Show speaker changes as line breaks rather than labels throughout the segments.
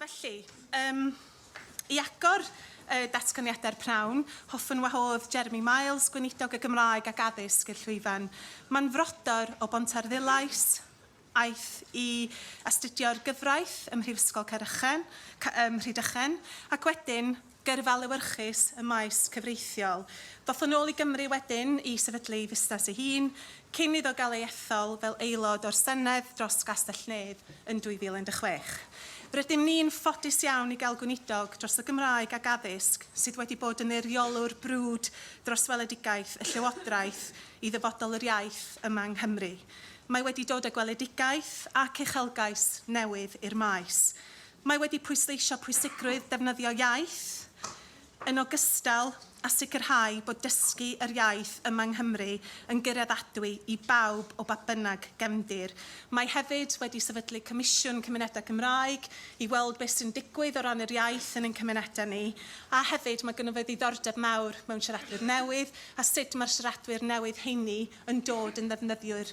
Felly, um, i agor y datganiadau'r prawn, hoffwn wahodd Jeremy Miles, Gweinidog y Gymraeg ac Addysg i'r llwyfan. Mae'n frodor o Bontarddulais, aeth i astudio'r gyfraith ym Mhrifysgol Caerychen, ym Mhrydychen, ac wedyn gyrfa lewyrchus ym maes cyfreithiol. Ddoth yn ôl i Gymru wedyn i sefydlu ei fusnes ei hun, cyn iddo gael ei ethol fel aelod o'r Senedd dros Gastell-nedd yn 2016. Rydym ni'n ffodus iawn i gael Gweinidog dros y Gymraeg ac Addysg sydd wedi bod yn eiriolwr brwd dros weledigaeth y Llywodraeth i ddyfodol yr iaith yma yng Nghymru. Mae wedi dod â gweledigaeth ac uchelgais newydd i'r maes. Mae wedi pwysleisio pwysigrwydd defnyddio iaith, yn ogystal â sicrhau bod dysgu yr iaith yma yng Nghymru yn gyraeddadwy i bawb o ba bynnag gefndir. Mae hefyd wedi sefydlu Comisiwn Cymunedau Cymraeg i weld beth sy'n digwydd o ran yr iaith yn ein cymunedau ni, a hefyd mae gynno fe ddiddordeb mawr mewn siaradwyr newydd a sut mae'r siaradwyr newydd heini yn dod yn ddefnyddiwyr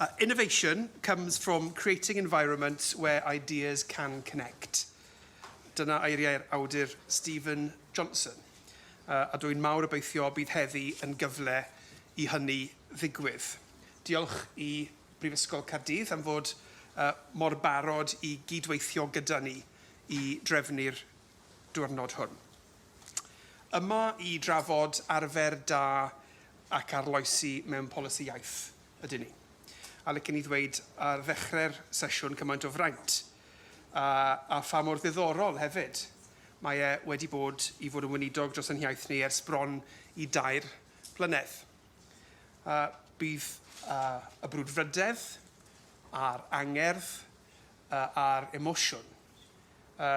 Uh, innovation comes from creating environments where ideas can connect. Dyna eiriau'r awdur Stephen Johnson. Uh, a dwi'n mawr obeithio bydd heddi yn gyfle i hynny ddigwydd. Diolch i Brifysgol Caerdydd am fod uh, mor barod i gydweithio gyda ni i drefnu'r diwrnod hwn. Yma i drafod arfer da ac arloesi mewn polisi iaith ydyn ni. A licen i ddweud ar ddechrau'r sesiwn cymaint o fraint a a pha mor ddiddorol hefyd mae e wedi bod i fod yn weinidog dros ein hiaith ni ers bron i dair blynedd. A bydd a y brwdfrydedd a'r angerdd a a'r emosiwn a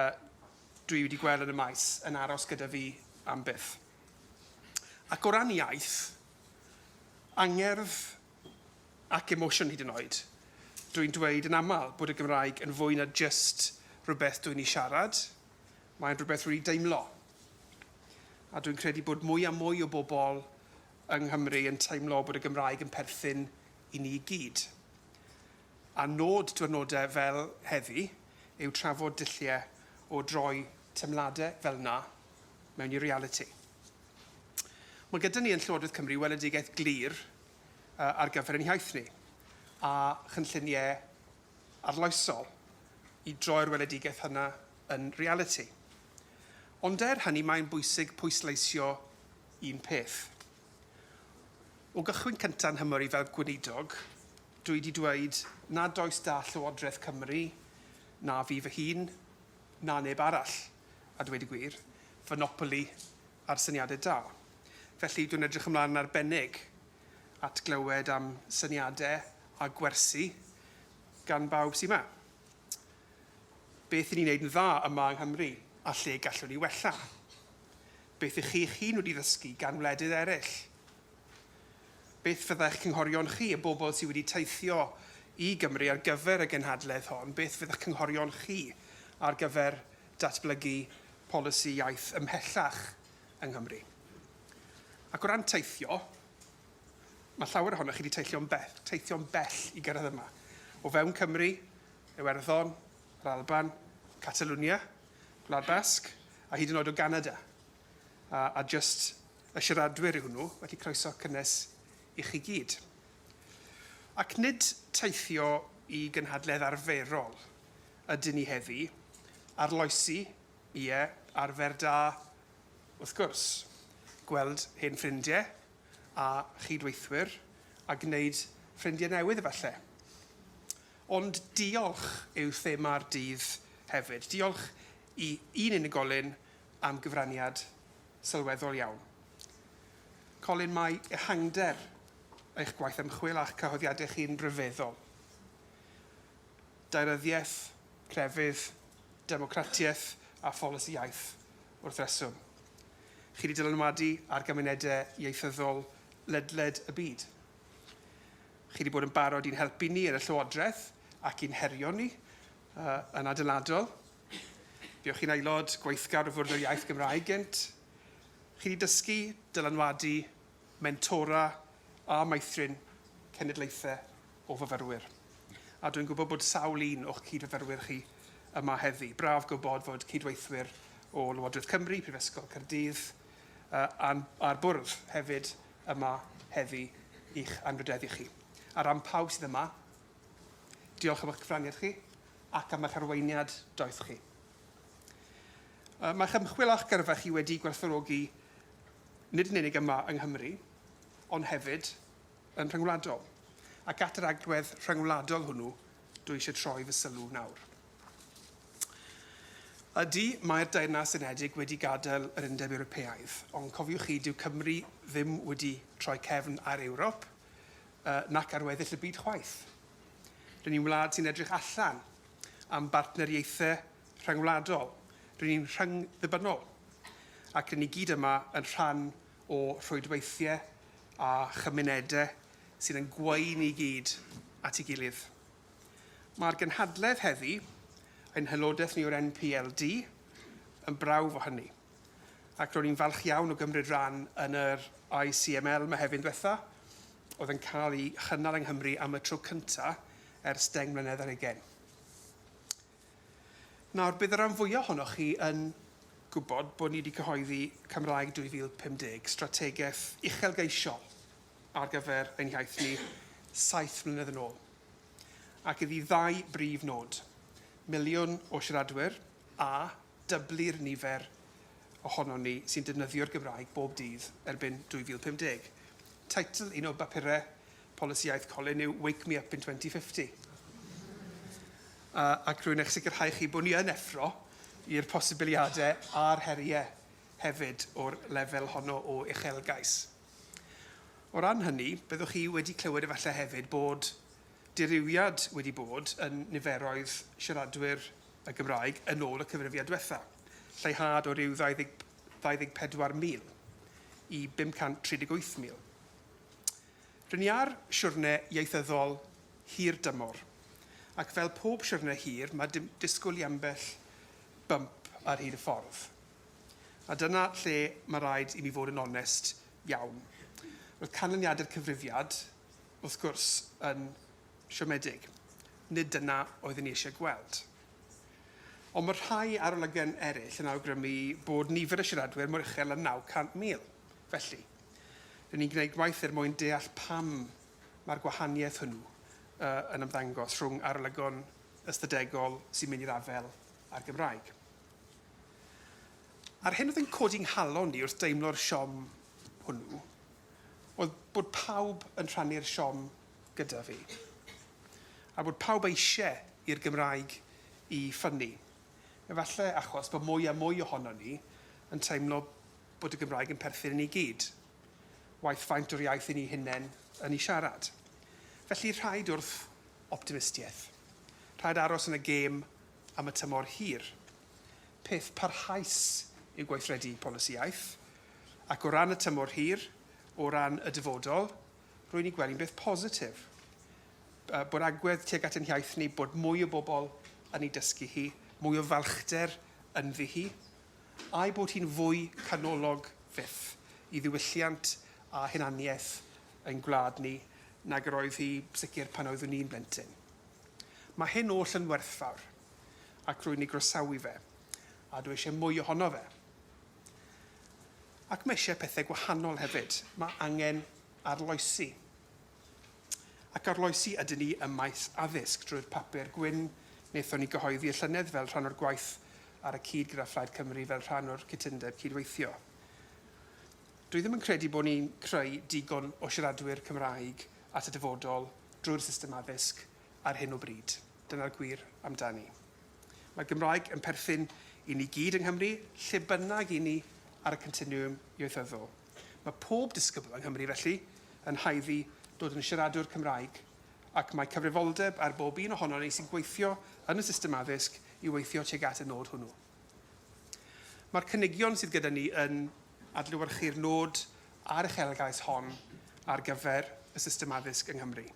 dwi wedi gweld yn y maes yn aros gyda fi am byth. Ac o ran iaith, angerdd ac emosiwn hyd yn oed, dwi'n dweud yn aml bod y Gymraeg yn fwy na jyst rhywbeth dwi'n ei siarad, mae'n rhywbeth rwy'n ei deimlo. A dwi'n credu bod mwy a mwy o bobl yng Nghymru yn teimlo bod y Gymraeg yn perthyn i ni i gyd. A nod diwrnodau fel heddi yw trafod dulliau o droi teimladau fel 'na mewn i realiti. Mae gyda ni yn Llywodraeth Cymru weledigaeth glir ar gyfer ein hiaith ni, a chynlluniau arloesol i droi'r weledigaeth hynna yn realiti. Ond er hynny mae'n bwysig pwysleisio un peth. O gychwyn cynta' 'nhymor i fel Gweinidog, Dw i 'di dweud nad oes 'da Llywodraeth Cymru, na fi fy hun, na neb arall, a dweud y gwir, fonopoli ar syniadau da. Felly, dwi'n edrych ymlaen yn arbennig at glywed am syniadau a gwersi gan bawb sy 'ma. Beth 'yn ni'n wneud yn dda yma yng Nghymru a lle gallwn ni wella? Beth 'ych chi eich hun wedi ddysgu gan wledydd eraill? Beth fydd eich cynghorion chi, y bobl sydd wedi teithio i Gymru ar gyfer y genhadledd hon, beth fydd eich cynghorion chi ar gyfer datblygu polisi iaith ymhellach yng Nghymru? Ac o ran teithio, mae llawer ohonoch chi wedi teithio'n bell, teithio'n bell i gyrraedd yma. O fewn Cymru, Iwerddon, yr Alban, Catalwnia, Gwlad Basg, a hyd yn oed o Ganada. a, a jyst y siaradwyr yw hwnnw, felly croeso cynnes i chi gyd. Ac nid teithio i gynhadledd arferol ydyn ni heddi, arloesi, ie, arfer da, wrth gwrs, gweld hen ffrindiau a chyd-weithwyr a gwneud ffrindiau newydd efallai. Ond diolch yw thema'r dydd hefyd. Diolch i un unigolyn am gyfraniad sylweddol iawn. Colin, mae ehangder eich gwaith ymchwil a'ch cyhoeddiadau chi'n ryfeddol. Daearyddiaeth, crefydd, democratiaeth a pholisi iaith, wrth reswm. Chi wedi dylanwadu ar gymunedau ieithyddol ledled y byd. Chi wedi bod yn barod i'n helpu ni yn y Llywodraeth ac i'n herio ni yn adeiladol. Buoch chi'n aelod gweithgar o Fwrdd yr Iaith Gymraeg gynt. Chi wedi dysgu, dylanwadu, mentora a meithrin cenedlaethau o fyfyrwyr. A dwi'n gwybod bod sawl un o'ch cyd-fyfyrwyr chi yma heddi. Braf gwybod fod cydweithwyr o Lywodraeth Cymru, Prifysgol Caerdydd a'r Bwrdd hefyd yma heddi i'ch anrhydeddu chi. Ar ran pawb sydd yma, Diolch am eich cyfraniad chi ac am eich arweiniad doeth chi. Mae'ch ymchwil a'ch gyrfa chi wedi gwerthfawrogi nid yn unig yma yng Nghymru, ond hefyd yn rhyngwladol. Ac at yr agwedd rhyngwladol hwnnw dwi eisiau troi fy sylw nawr. Ydy, mae'r Deyrnas Unedig wedi gadael yr Undeb Ewropeaidd, ond cofiwch chi, dyw Cymru ddim wedi troi cefn ar Ewrop, uh, nac ar weddill y byd chwaith. Rydyn ni'n wlad sy'n edrych allan am bartneriaethau rhyngwladol. Rydyn ni'n rhyngddibynnol ac rydyn ni gyd yma yn rhan o rhwydweithiau a chymunedau sydd yn gwein i gyd at ei gilydd. Mae'r gynhadledd heddi, ein hylodaeth ni o'r NPLD, yn brawf o hynny. ac ro'n i'n falch iawn o gymryd rhan yn yr ICML Mehefin dwetha, oedd yn cael ei chynnal yng Nghymru am y tro cynta ers deng mlynedd ar hugain. Nawr, bydd y rhan fwya ohonoch chi yn gwybod bod ni wedi cyhoeddi Cymraeg 2050, strategaeth uchelgeisiol ar gyfer ein hiaith ni saith mlynedd yn ôl, ac iddi ddau brif nod, miliwn o siaradwyr a dyblu'r nifer ohonon ni sy'n defnyddio'r Gymraeg bob dydd erbyn 2050. Teitl un o bapurau polisiaeth Colin yw Wake Me Up in 2050. Ac rwy'n eich sicrhau chi bod ni yn effro i'r posibiliadau a'r heriau hefyd o'r lefel honno o uchelgais. O ran hynny, byddwch chi wedi clywed efallai hefyd bod dirywiad wedi bod yn niferoedd siaradwyr y Gymraeg yn ôl y cyfrifiad diwetha', lleihad o ryw 24,000 i 538,000. Ry'n ni ar siwrne ieithyddol hir dymor, ac fel pob siwrne hir mae disgwyl i ambell bump ar hyd y ffordd. A dyna lle mae rhaid i mi fod yn onest iawn. Roedd canlyniadau'r cyfrifiad, wrth gwrs, yn Siomedig. Nid dyna oeddwn i eisiau gweld. Ond mae rhai arolygon eraill yn awgrymu bod nifer y siaradwyr mor uchel â 900,000. Felly, rŷn ni'n gwneud gwaith er mwyn deall pam mae'r gwahaniaeth hwnnw yn ymddangos rhwng arolygon ystadegol sy'n mynd i'r afael â'r Gymraeg. A'r hyn oedd yn codi nghalon i wrth deimlo'r siom hwnnw oedd bod pawb yn rhannu'r siom gyda fi. A bod pawb eisie i'r Gymraeg i ffynnu. Efalle achos bod mwy a mwy ohonon ni yn teimlo bod y Gymraeg yn perthyn i ni gyd, waeth faint o'r iaith i ni hunen yn i siarad. Felly rhaid wrth optimistieth. Rhaid aros yn y gêm am y tymor hir. Peth parhaus yw gweithredu polisi iaith. Ac o ran y tymor hir, o ran y dyfodol, Rwy'n ei gweld hi'n beth positif yy bod agwedd tuag at ein hiaith ni, bod mwy o bobl yn ei dysgu hi, mwy o falchder ynddi hi, a'i bod hi'n fwy canolog fyth i ddiwylliant a hunaniaeth ein gwlad ni nag yr oedd hi, sicr, pan oeddwn i'n blentyn. Mae hyn oll yn werthfawr, ac rwy'n ei groesawu fe, a dw i eisiau mwy ohono fe. Ac mae eisiau pethau gwahanol hefyd. Mae angen arloesi. Ac arloesi ydyn ni ym maes addysg drwy'r Papur Gwyn wnaethon ni gyhoeddi y llynedd fel rhan o'r gwaith ar y cyd gyda Phlaid Cymru fel rhan o'r cytundeb cydweithio. Dwi ddim yn credu bod ni'n creu digon o siaradwyr Cymraeg at y dyfodol drwy'r system addysg ar hyn o bryd. Dyna'r gwir amdani. Mae Gymraeg yn perthyn i ni gyd yng Nghymru, lle bynnag i ni ar y continiwm ieithyddol. Mae pob disgybl yng Nghymru, felly, yn haeddu dod yn siaradwr Cymraeg, ac mae cyfrifoldeb ar bob un ohonon ni sy'n gweithio yn y system addysg i weithio tuag at y nod hwnnw. Mae'r cynigion sydd gyda ni yn adlewyrchu'r nod a'r uchelgais hon ar gyfer y system addysg yng Nghymru.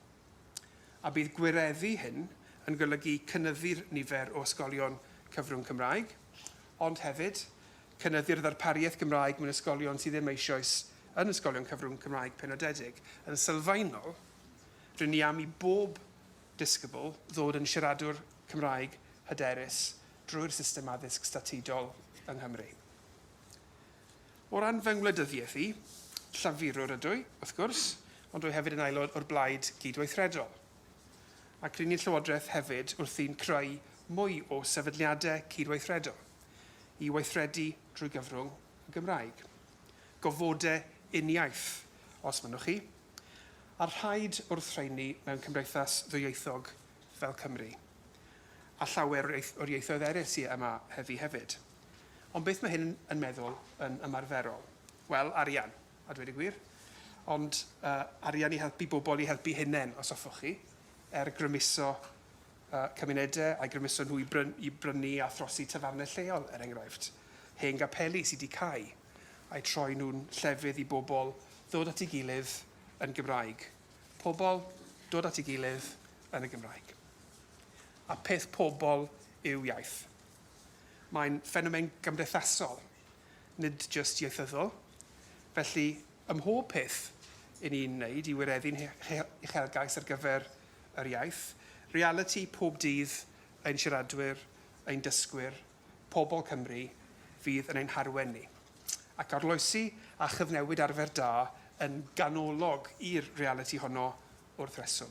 a bydd gwireddu hyn yn golygu cynyddu'r nifer o ysgolion cyfrwng Cymraeg, ond hefyd, cynyddu'r ddarpariaeth Gymraeg mewn ysgolion sydd ddim eisoes yn ysgolion cyfrwng Cymraeg penodedig. Yn sylfaenol, rŷn ni am i bob disgybl ddod yn siaradwr Cymraeg hyderus drwy'r system addysg statudol yng Nghymru. O ran fy ngwleidyddiaeth i, Llafurwr ydw i, wrth gwrs, ond rwy hefyd yn aelod o'r Blaid Gydweithredol. Ac ry'n ni'n Llywodraeth hefyd wrthi'n creu mwy o sefydliadau cydweithredol i weithredu drwy gyfrwng y Gymraeg. Gofodau uniaith, os mynnwch chi, a rhaid wrth rheiny mewn cymdeithas ddwyieithog fel Cymru. A llawer o'r ieithoedd eraill sy' yma heddi hefyd. Ond beth mae hyn yn meddwl yn ymarferol? Wel, arian, a dweud y gwir. Ond uh, arian i helpu bobl i helpu hunain, os hoffwch chi, er grymuso uh, cymunedau a'i grymuso nhw i, bryn, i brynu a throsi tafarnau lleol, er enghraifft. Hen gapeli sydd wedi cael, a'i troi nhw'n llefydd i bobl ddod at ei gilydd yn Gymraeg. Pobl dod at ei gilydd yn y Gymraeg. A peth pobl yw iaith. Mae'n ffenomen gymdeithasol, nid jyst ieithyddol. Felly, ym mhob peth i ni'n wneud i wireddu'n huchelgais ar gyfer yr iaith, realiti pob dydd ein siaradwyr, ein dysgwyr, pobl Cymru, fydd yn ein harwen ni. Ac arloesi a chyfnewid arfer da yn ganolog i'r realiti honno wrth reswm.